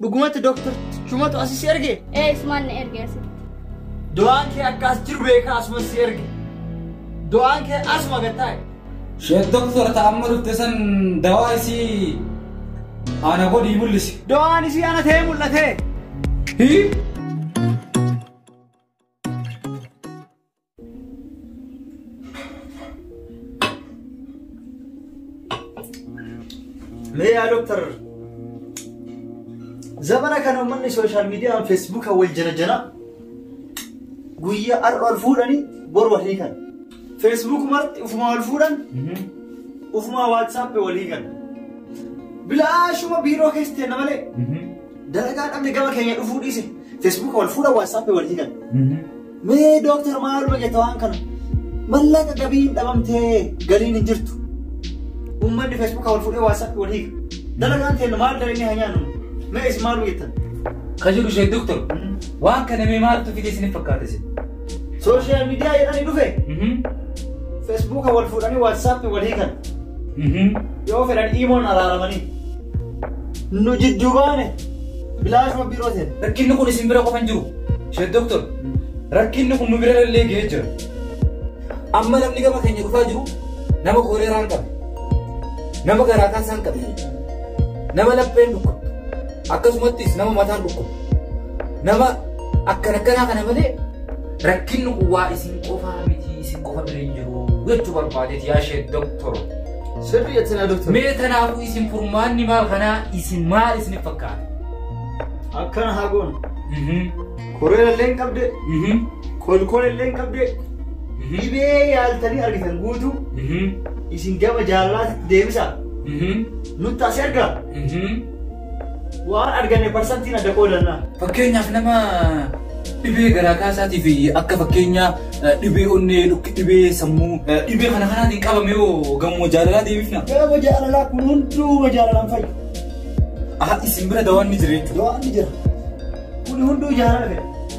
Dhugumatti Dooktar Chumatu asi si erge? Ee isumaan na erge asitti. Du'aan kee akka as jiru beekaa asuma si erge. Du'aan kee asuma gad taa'e. Sheek Doktor ta amma dhufte san dawaa isii ana godhii mul'isi. Du'aan isii ana ta'ee mul'ate. Hii? Mee yaa doktar zabana kana uummanni sooshaal miidiyaan feesbuuka wal janajana guyyaa har'a wal fuudhanii bor wal hiikan. Feesbuuk marti ufuma wal fuudhan ufuma waatsaappii wal hiikan. Bilaashuma biiroo keessa ta'e malee dalagaa dhabne gama keenya dhufuu dhiise feesbuuka wal fuudhan waatsaappii wal hiikan. Mee dooktar maaluma jetta waan kana? Mallaqa gabiin dhabamtee galiin hin jirtu. Uummanni feesbuuka wal fuudhee waasaappi wal hiika. Dalagaan teenna maal dalagni haa nyaannu? Mee isin maaluma jettan? Ka jiru ishee doktor. Waan kana mee maaltu fide isiniif fakkaata isin? Sooshaal miidiyaa jedhanii dhufe. Feesbuuka wal fuudhanii waasaappi wal hiikan. Yoo fedhan iimoon araaramanii. Nu jidduu baane bilaashuma biiroo seene. Rakkinni kun isin bira qofa hin jiru. Sheet Doktor, rakkinni kun nu bira illee ga'ee jira. Amma namni gama keenya dhufaa jiru nama kooleeraa hin qabne, nama garaa kaasaa hin qabne, nama lapheen dhukkubdu, akkasumattis nama mataan dhukkubdu, nama akkan akkanaa kana malee rakkinni kun waa isin qofaa miti isin qofa bira hin jiru jechuu barbaadeeti yaa Sheet Doktor. Sirrii jettin haa doktar. Mee kanaafuu isin furmaanni maal kanaa isin maal isin fakkaata? Akkana haa goonu. Koreera illee hin qabde, kolkola illee hin qabde, dhibee yaaltanii argitan guutuu isin gama jaalalaatti deebisaa nutti as ergaa. Waan arganne parsantiin adda qoodanna. Fakkeenyaaf nama dhibee garaa kaasaatii fi akka fakkeenyaa eh, dhibee onnee, dhukki- dhibee sammuu, eh, dhibee kana kanaatiin qabame hoo gamoo jaalalaa deebifna. Gaafa jaalalaa kun hunduu jaalalaan fayyu. Aha, isin bira dawaan ni jira jechuudha. Dawaan ni jira. Kun hunduu jaalala fedha.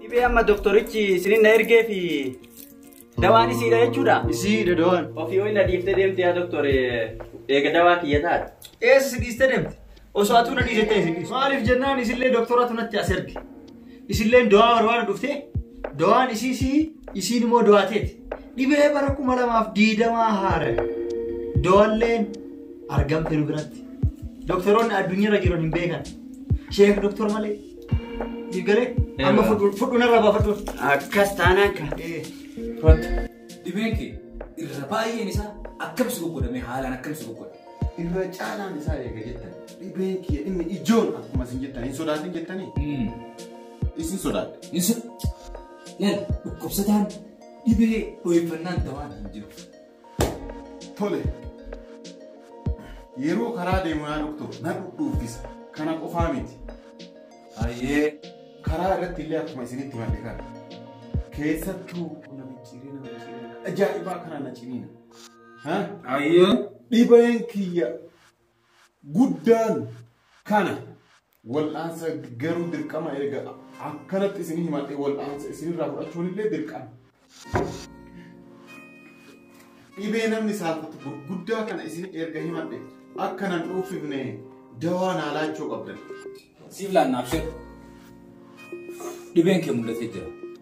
Dhibee amma doktorichi isinin na ergee fi dawaan isiidha jechuudha. Isiidha dawaan. Ofii ho'i na dhiiftee deemte yaa doktor eega dawaa kiyya taate. Eessa si dhiistee deemte? Osoo atuu na dhiisettee isin dhiisu. Maaliif jennaan isillee doktoratu natti as erge. Isilleen dawaa barbaada dhuftee dawaan isii si isiin immoo dawaa teeti. Dhibee bara kuma lamaaf diidamaa haara. Dawalleen argamte nu biratti. Doktoroonni addunyaarra jiran hin beekan. Sheek doktor malee. Digalee amma fudhuun irra baafadhu. Akkas taanaan kan. Kottu. Dhibeen kee irra baay'een isaa akkamsi goggodhamee haalaan akkamsi goggodha. Irra caalaan isaa eega jettan dhibeen kee inni ijoon akkuma isin jettan hin sodaatin jettanii isin sodaadha. Insa. Laal dhukkubsataan dhibee dho'iffannaan dawaan hin jiru. Tole. Yeroo karaa deemu yaa doktor na dhudhuuffisa. Kana qofaa miti. Hayyee karaa irratti illee akkuma isinitti madde kana. Keessattuu qonna micciirina micciirina ajaa'ibaa kana na ciniina. Ha? Hayyee. Dhibeen kiyya guddaan kana. Wal'aansa garuu dirqama eega akkanatti isin himadhe wal'aansa isinirraa fudhachuun illee dirqama. Dhibee namni saalfatu gurguddaa kana isin erga himadhe akka nan dhuufifne dawaa naa laachuu qabdan. Siif laanna abshir. Dhibeen kee mul'atee jira.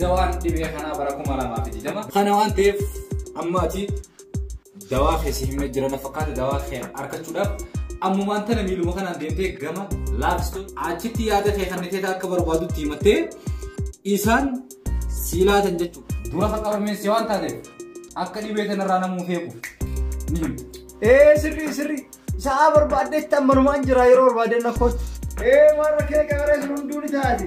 Dawaan dhibee kanaa bara 2020. Kana waan ta'eef amma ati dawaa kee si himne jira na fakkaata dawaa kee argachuudhaaf ammumaan tana miiluma kanaan deemtee gama laabistoo achitti yaada kee kan niteeta akka barbaadutti himattee isaan sii laatan jechuudha. Dura kan qabameen si waan taateef akka dhibee kanarraa namuu feeku ni himta. Ee sirrii sirrii sa'aa barbaaddetti ammanumaan jira yeroo barbaadeen na kootti. Ee warra kee gaaree sun hunduu ni taati.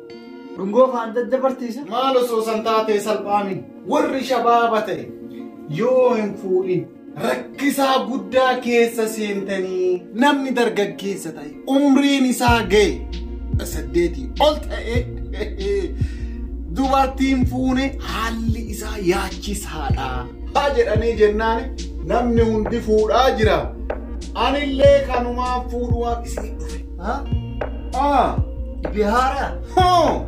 Dhungoo faan daddabarteessa. Maal osoo san taatee salphaami warri shabaaba ta'e yoo hin fuudhin rakkisaa guddaa keessa seentanii namni dargaggeessa ta'e umriin isaa ga'e saddeetii ol ta'e dubartiin fuune haalli isaa yaachisaadha. Haa jedhanii jennaan namni hundi fuudhaa jira. Anillee kanumaan fuudhuwaaf isii dhufe. Ha? Ah, dhibee haaraa. Hoo!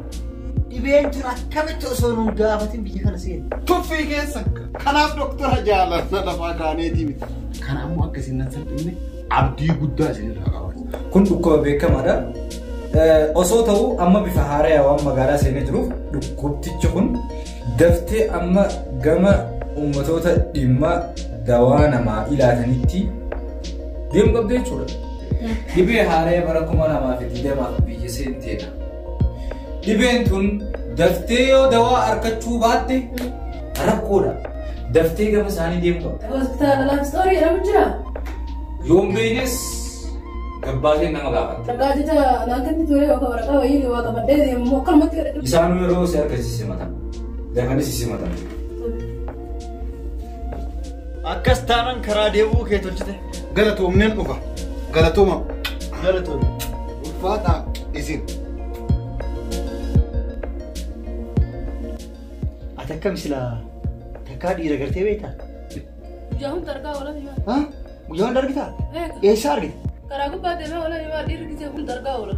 Dhibeen tun akkamitti osoo nun gaafatin biyya kana seenu. Tuffii keessa kanaaf doktora jaalanna lafaa kaaneetii miti. Kana ammoo akka isin nan salphinne abdii guddaa isinirraa qaba. Kun dhukkuba beekamaadha. Eh, Osoo ta'uu amma bifa haaraya waan magaalaa seenee jiruuf dhukkubtichi kun daftee amma gama uummatoota dhimma dawaa namaa ilaatanitti Deemu qabdi jechuudha. Dhibee haaree bara kuma lamaa fi digdamaaf biyya seenteedha. Dhibeen tun daftee yoo dawaa argachuu baatte rakkoodha. Daftee gama isaanii deemu qabda. Hospitaala laafistoorii jedhamu jira. Yoon beeknes gabbaaseen nama gaafata. Waraqaa jecha naan kenni ture yookaan waraqaa wayii waa qabadhee deemu akkanumatti kadhadhu. Isaanuu yeroo si argisiise mata. Dafanis si mata. Akkas taanan karaa deebi'uu kee tolchite. Galatoomneen dhufa. Galatooma. Galatooma. Ulfaataa isin. Ati akkam silaa takkaa dhiira gartee beektaa? Guyyaa hunda argaa oolan himaa. Ha? Guyyaa hunda argitaa? Beeka. Eessaa argita? Karaa gubbaa deemee oolan himaa dhiirri gisee hunda argaa oolan.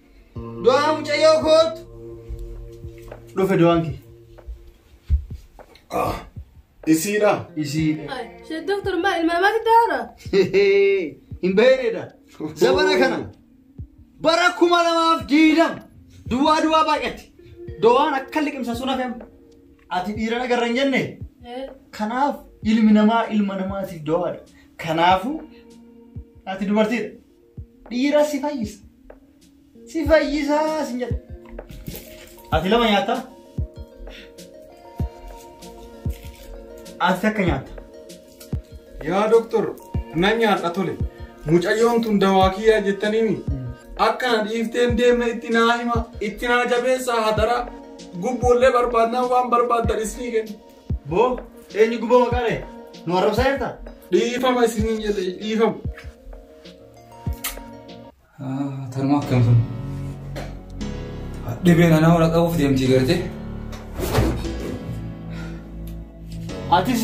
Du'aa mucayyoo koottu. Dhufe du'aan kee. Ah, isiidha. Isii. Shee doktor maa ilma namaatti daara. Hin beeknedha. Zabana kana bara kuma lamaaf diidam duwwaa duwwaa baay'atti. Dowaan akka liqimsa sun hafem. Ati dhiirana garra hin jenne. Kanaaf ilmi namaa ilma namaatiif dowaadha. Kanaafuu ati dubartiidha. Dhiira si fayyisa. Si fayyisa si jedha. Ati lama nyaatta? Ati takka nyaatta? Yaa doktor na nyaadha tole. Mucayyoon tun dawaa kiyyaa jettaniimi. Akkana dhiifteen deemna itti naa hima itti naa jabeessaa hadaraa gubboollee barbaadnaa waan barbaaddan isinii kenna. Boo eenyu gubboo maqaa dha'e? Nu arrabsaa jirta? Dhiifama isiniin jedhe dhiifama. Tarmaa akkam sun? Dhibeen anaa wal qabuuf deemtii gartee? Atis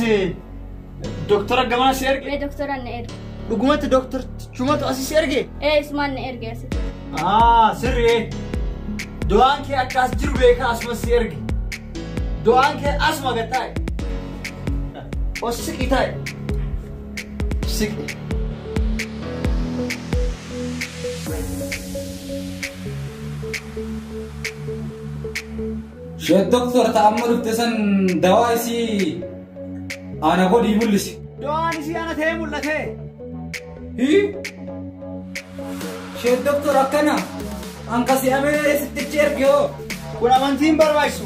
doktora gamaa si erge? Mee doktora na erge. Dhugumatti doktor Chumatu asi si erge? Ee isumaan na erge asi. Aa sirri. Du'aan kee akka as jiru beekaa asuma si erge. Du'aan kee asuma gad taa'e. Ossi qitaa'e. siqu. She doktor ta amma dhufte san dawaa isii ana godhii mul'isi. Dawaan isii ana ta'ee mul'ate. Hi? She doktor akkana an kasi amee sittichi erge hoo. Kun amantiin barbaachisu.